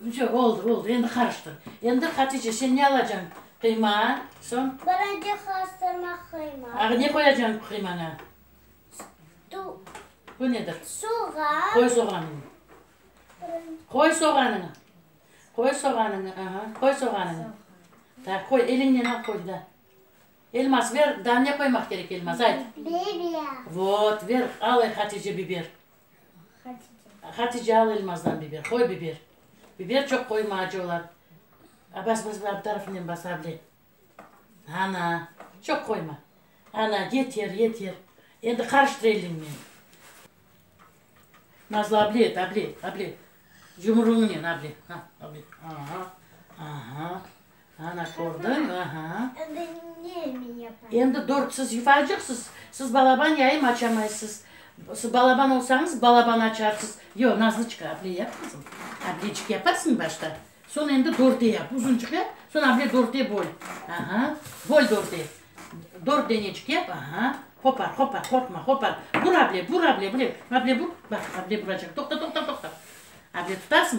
Vse, oldı, oldı, endi qarıştır. Endi, Hatice, sen ne alacañ? Qıyma, soñ? Balaca qastırma qıyma. Ağa, ne qoyacañ qıymaña? Bu nedir? Soğan. Qoy soğanıñ. Qoy soğanıñ. Qoy soğanıñ, aha, qoy soğanıñ. Ta, qoy, eliñnen al, qoy, da. Elmas ver, da ne qoymaq kerek elmas, ayt. Biber. Vot, ver, al, Hatice, biber. Hatice, al elmazdan biber, qoy biber. Biber çoq qoyma, acı olar. A, bas, bas, bas, bir tarafınen bas, able. Ana, çoq qoyma. Ana, yeter, yeter. Endi qarıştır eliñnen. Nazlı, able et, able, able. Yumruñnen able. Ha, able. Aha, aha. Ana, kördiñ, aha. Endi ne men yapayım? Endi dört siz yupaycaqsız, siz balaban yayım açamaysız. Siz balaban olsañız, balaban açarsız. Yoq, Nazlıçka, aple yap, qızım. Ablecik yaparsıñ başta. Soñ endi dörte yap, uzuncıq yap, soñ able dörte böl. Aha, böl dörte. Dört denecik yap, aha. Qopar, qopar, qorqma, qopar. Bur, able, bur, able, bur, able bur. Bax, able buracaq. Toqta, toqta, toqta. Able tutarsıñ,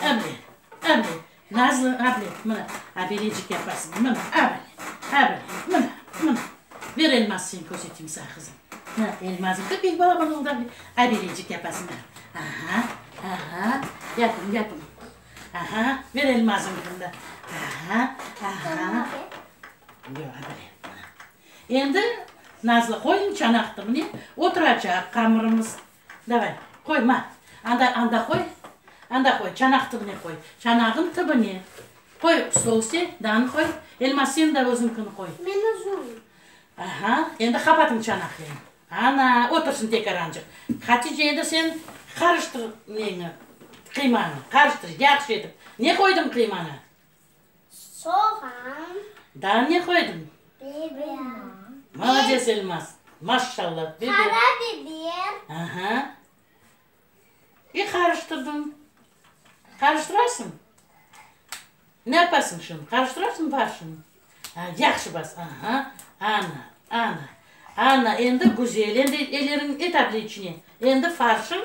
Abile, abile, nazlı abile, mına, abilecik yaparsıñ, mına, abile, abile, mına, mına, bir elmaz seni körseteyim saña, qızım, mına, elmazım dep, ilk bala bana oldı, abilecik yapasıñ, mına, aha, aha, yapıñ, yapıñ, aha, bir elmazım dedim da, aha, aha, yoq, abile, mına, endi, nazlı, qoyuñ çanaqtı, mine, oturacaq qamırımız. Davay, qoy, ma, anda, anda qoy, anda qoy, çanaq tibine qoy, çanağın tibine. Qoy stolüste danı qoy, elma seni da özünkini qoy. Men özüm. Aha, endi qapatıñ çanaqleñ. Ana, otursın tekar ancıq. Hatice, endi sen qarıştır neñi, qıymañı, qarıştır, yahşı etip. Ne qoydıñ qıymaña? Soğan. Daa ne qoydıñ? Biber. Malades, Elmaz! Maşşalla! Biber. Qara biber. Aha. İ qarıştırdıñ. Qarıştırasıñ? Ne yapasıñ şimdi? Qarıştırasıñ barşını? A, yahşı bas. Aha. Ana, ana, ana, endi güzel, endi eleriñ et abli içine. Endi farşıñ.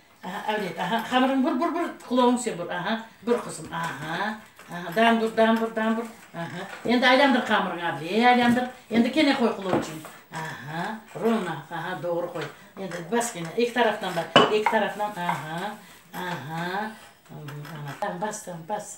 Aha, avret, aha, hamırıñ bur, bur, bur, qulağıñ sen bur, aha, bur, qızım, aha, aha, dam bur, dam bur, dam bur, aha, endi aylandır qamırıñ, avre, aylandır, endi kene qoy qulağ içün, aha, rovno, aha, doğru qoy, endi bas kene, eki taraftan bas, eki taraftan, aha, aha, ana, bas, bas.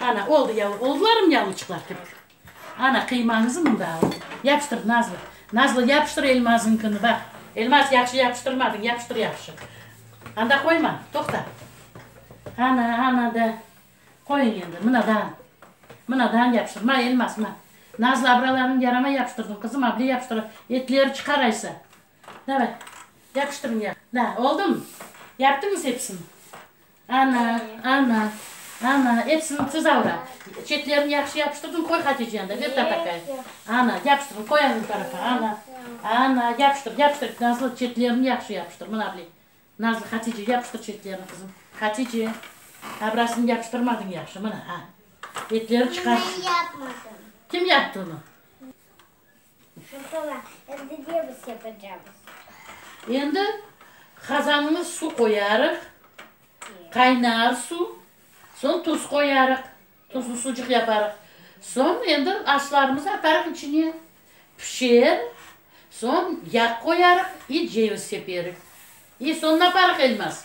Ana, oldı yalı oğullarım, yalıçıqlar kirip. Ana, qıymañızı mında alıñ. Yapıştır, Nazlı. Nazlı, yapıştır Elmazıñkını, baq. Elmaz, yahşı yapıştırmadıñ, yapıştır yahşı. Anda qoyma, toqta. Ana, ana da. Qoyuñ endi, mınadan. Mınadan yapıştır. Ma, Elmaz, ma. Nazlı, abralarıñ yaramay yapıştırdıñ, qızım, able yapıştıra, etleri çıqar aysa. Davay, yapıştırıñ ya. Na, oldum. Yaptıñız episini? Ana, ana, ana, episini siz avra. Çetlerini yahşı yapıştırdıñ, qoy Hatice yanda, ber tatakay. Ana, yapıştırıñ, qoy anı tarafa, ana, ana, yapıştır, yapıştır, Nazlı, çetlerini yahşı yapıştır, mına bile. Nazlı, Hatice, yapıştır çetlerini, qızım. Hatice, abrasını yapıştırmadıñ yahşı, mına, a. Etleri çıqarsın. Kim yaptı onı? Şoqala, endi ne biz yapacamız? Endi qazanğa suv qoyarıq, qaynar suv, soñ tuz qoyarıq, tuzlu sucıq yaparıq. Soñ endi aşlarımızı atarıq içine, pişer, soñ yağ qoyarıq i ceviz seperik. E, soñ naparıq, Elmaz?